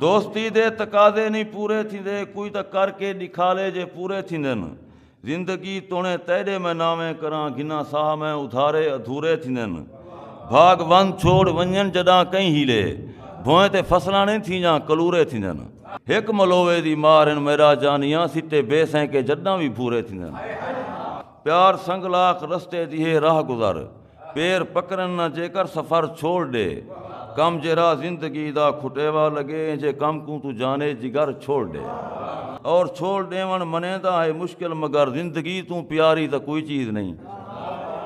دوستی دے تقاضے نی پورے تھیندے کوئی تاں کر کے ڈکھالے جے پورے تھیندن زندگی تونے تیڈے میں ناویں کراں گھناں ساہ میں ادھارے ادھورے تھیندن بھاگ وند چھوڑ ونجن جڈاں کئیں ہیلے بھوئیں تے فصلاں نی تھیجاں کلورے تھیندن۔ ہک ملوے دی مار ان میرا جانیاں سٹے بے سینکے جڈاں وی بھورے تھیندن پیار سنگ لاکھ رستے دی ہے راہ گزر۔ پیر پکرن نہ جیکر سفر چھوڑ ڈے کم جے راہ زندگی دا کھٹیوا لگے جے کم کوں توں جانے جگر چھوڑ ڈے اور چھوڑ ڈیون منیندا ہے مشکل مگر زندگی توں پیاری تاں کوئی چیز نہیں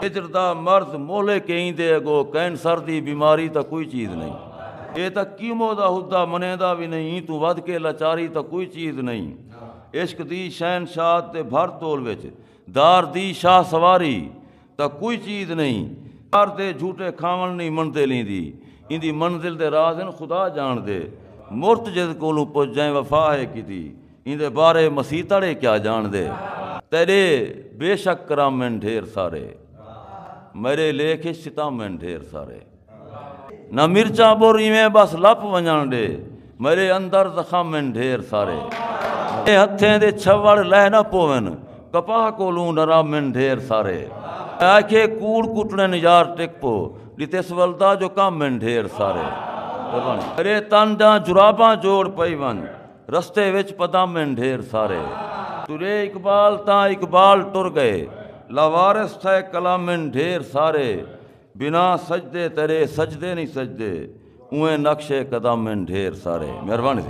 ہجر دا مرض مولے کہیں دے اگو کینسر دی بیماری تاں کوئی چیز نہیں اے تاں کیمو دا ہدا منیندا وی نہیں ایں توں ودھ کے لاچاری تاں کوئی چیز نہیں عشق دی شہنشاہت دے بھر تول وچ دار دی شاہ سواری دا کوئی چیز نئیں۔ کر دے جھوٹے کھاوݨ نئیں منڈدے لیندی۔ ایندی منزل دے راز ہن خدا جانڑدے۔ مرت جس کولوں پچھ جئیں وفا ہے کیتی۔ ایندے بارے مسیح تڑے کیا جانڑدے۔ تیڈے بے شک کرم ہن ڈھیر سارے۔ میڈے لیکھ اچ ستم ہن ڈھیر سارے۔ نہ مرچاں بر ایویں بس لپ ونجن ڈے میرے اندر زخم ان ڈھیر سارے اے ہتھیں دے چھوڑ لہ نہ پوون کپاہ کولوں ڈرا من ڈھیر سارے آکھے کوڑ کٹڑن یار ٹک پو ڈتس ولدا جو کم من ڈھیر سارے میرے تن داں جراباں جوڑ پئی ون رستے وچ پدم ان ڈھیر سارے ترے اقبال تاں اقبال ٹر گئے لاوارس تھے قلم ان ڈھیر سارے بنا سجدے تیرے سجدے نہیں سجدے اونویں نقش قدم ہن ڈھیر سارے مہربانی سائیں